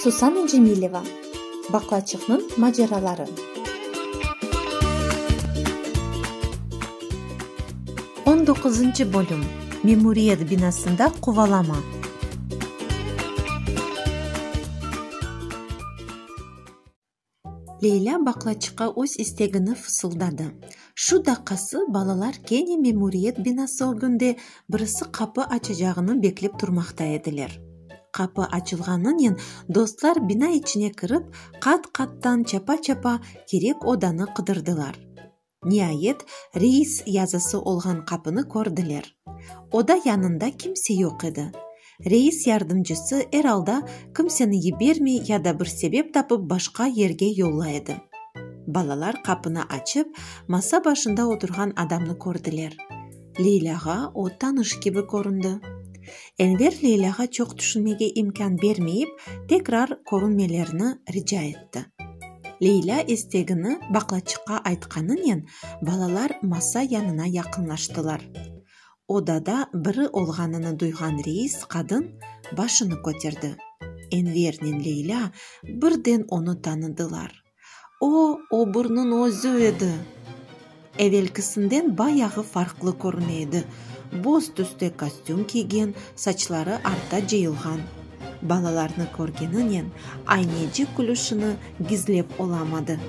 Susana Cemileva, Baqlaçıqnıñ maceraları. On doquzıncı bölüm, Memuriyet binasında qovalama. Leylâ baklaçıqqa öz istegini fısıldadı. Şu daqqası balalar kene memuriyet binası ögünde birisi qapı açacağını beklep turmaqta ediler. Qapı açılğanınen dostlar bina içine kirip, qat-qattan çapa-çapa kerek odanı qıdırdılar. Niayet, reis yazısı olğan qapını kördiler. Oda yanında kimse yoq edi. Reis yardımcısı, er alda, kimseni yibermey ya da bir sebep tapıp başqa yerge yolla edi. Balalar qapını açıp, masa başında oturğan adamnı kördiler. Leylâğa o tanış kibi köründi. Enver Leylâğa çoq tüşünmege imkân bermeyip, tekrar körünmelerini rica etti. Leylâ istegini baqlaçıqqa aytqanınen, balalar masa yanına yaqınlaştılar. Odada biri olğanını duyğan reis qadın başını köterdi. Envernen Leylâ birden onı tanıdılar. O, oburniñ özü edi. Evelkisinden bayağı farqlı körüne edi, boz tüste kostüm kiygen, saçları arta cıyılğan. Balalarnı körgeninen, Aynecik külüşini gizlep olamadı.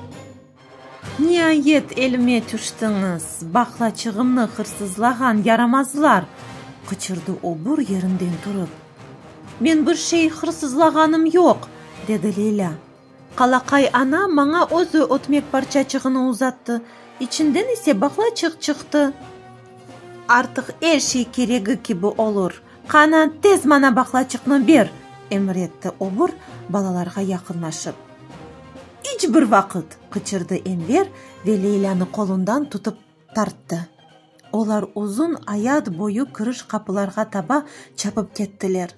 Niayet elime tüştiñiz, baqlaçığımnı hırsızlağan yaramazlar! qıçırdı obur yerinden turıp. Men bir şey hırsızlağanım yoq! dedi Leylâ. Qalaqay ana maña özü ötmek parçaçığını uzattı, içinden ise baqlaçıq çıqtı. Artıq er şey keregi kibi olur. Qana, tez maña baqlaçıqnı ber! emir etti obur, balalarğa yaqınlaşıp. İç bir vaqıt! qıçırdı Enver ve Leylânı qolundan tutıp. Tarttı. Olar uzun ayat boyu kiriş qapılarğa taba çapıp kettiler.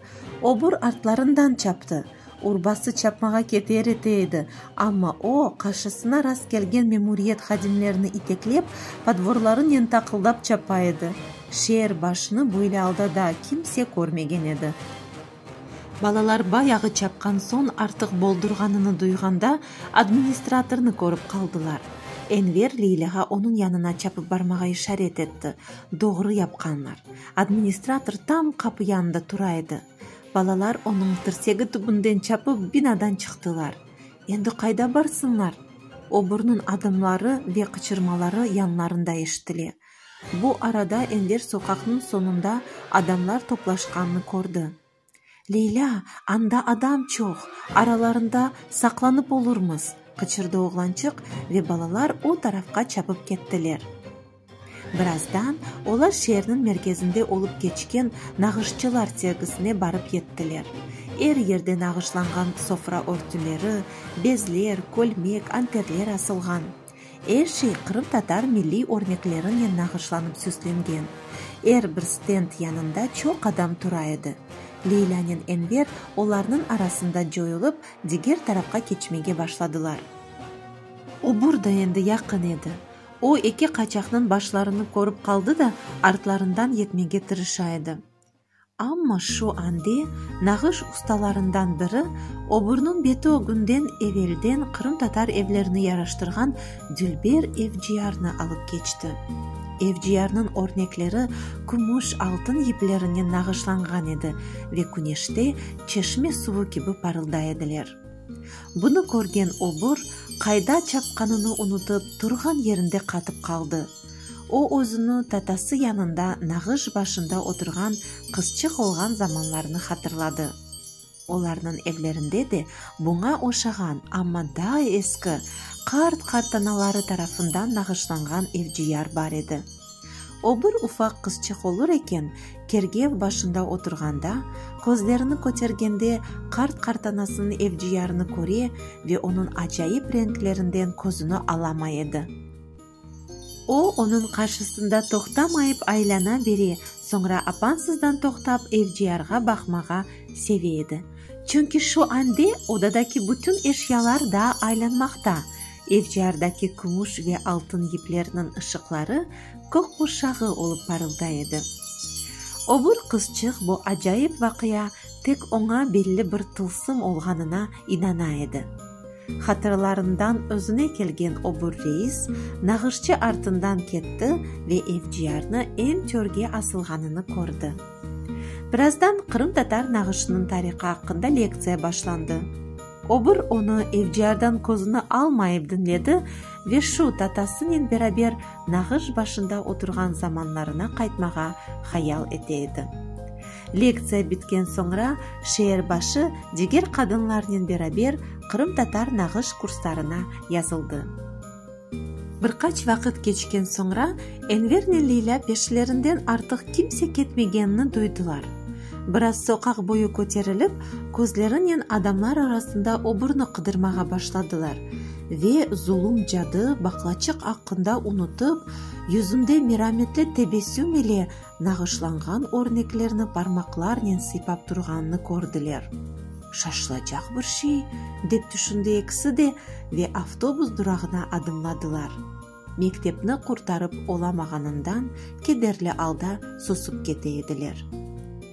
Obur artlarından çaptı. Urbası çapmağa keter ete edi, amma o, qarşısına rast kelgen memuriyet hadimlerini iteklep, podvorlarınen taqıldap çapa edi. Şeer başını böyle alda daa kimse körmegen edi. Balalar bayağı çapqan soñ artıq boldurğanını duyğanda, administratornı körip qaldılar. Enver Leylâğa onıñ yanına çapıp barmağa işaret etti. Doğru yapqanlar. Administrator tam qapı yanında tura edi. Balalar onıñ tirsegi tübünden çapıp binadan çıqtılar. Endi qayda barsınlar? Obrnıñ adımları ve qıçırmaları yanlarında eşitile. Bu arada Enver soqaqnıñ soñunda adamlar toplaşqanını kördi. Leylâ, anda adam çoq, aralarında saqlanıp olurmız! qıçırdı oğlançıq ve balalar o tarafqa çapıp kettiler. Birazdan olar şeerniñ merkezinde olıp keçken nağışçılar sergisine barıp yettiler. Er yerde nağışlanğan sofra örtüleri, bezler, kölmek, anterler asılğan. Er şey qırımtatar milliy örneklerinen nağışlanıp süslengen. Er bir stend yanında çoq adam tura edi. Leylânen Enver olarnıñ arasında coyulıp, diger tarafqa keçmege başladılar. Obur da endi yaqın edi. O, eki qaçaqnıñ başlarını körip qaldı da, artlarından yetmege tırışa edi. Amma şu ande nağış ustalarından biri oburniñ beti ögünden evelden qırımtatar evlerini yaraştırğan dülber evciyarnı alıp keçti. Evciyarnıñ örnekleri kümüş, altın yiplerinen nağışlanğan edi ve küneşte çeşme suvu kibi parılday ediler. Bunı körgen obur qayda çapqanını unutıp, turğan yerinde qatıp qaldı. O özüni tatası yanında nağış başında oturğan qızçıq olğan zamanlarını hatırladı. Olarnıñ evlerinde de buña oşağan, amma daa eski, qart-qartanaları tarafından nağışlanğan evciyar bar edi. O bir ufaq qızçıq olur eken, kergev başında oturğanda, közlerini kötergende qart-qartanasınıñ evciyarını köre ve onıñ acayip renklerinden közüni alamay edi. O, onıñ qarşısında toqtamayıp aylana bere, soñra apansızdan toqtap evciyarğa baqmağa seve edi. Çünki şu ande odadaki bütün eşyalar da aylanmaqta, evciyardaki kümüş ve altın yiplerniñ ışıqları kök qurşağı olıp parılday edi. Öbür qızçıq bu acayip vaqia tek oña belli bir tılsım olğanına inana edi. Hatırlarından özüne kelgen obur reis nağışçı artından ketti ve FDR-nı em törge asılğanını kördi. Birazdan qırımtatar nağışınıñ tarihı aqqında lektsiya başlandı. Obur onı FDR-dan közüni almayıp diñledi ve şu tatasınen beraber nağış başında oturğan zamanlarına qaytmağa hayal ete edi. Lektsiya bitken soñra şeerbaşı diger qadınlarnen beraber qırımtatar nağış kurslarına yazıldı. Bir qaç vaqıt keçken soñra Envernen Leylâ peşlerinden artıq kimse ketmegenini duydılar. Biraz soqaq boyu köterilip, közlerinen adamlar arasında oburni qıdırmağa başladılar ve zulum cadı baqlaçıq aqqında unutıp, yüzünde merametli tebessüm ile nağışlanğan örneklerni parmaqlarnen sıypap turğanını kördiler. Şaşılacaq bir şey, dep tüşündi ekisi de ve avtobus durağına adımladılar. Mektepni qurtarıp olamağanından kederli alda susup kete ediler.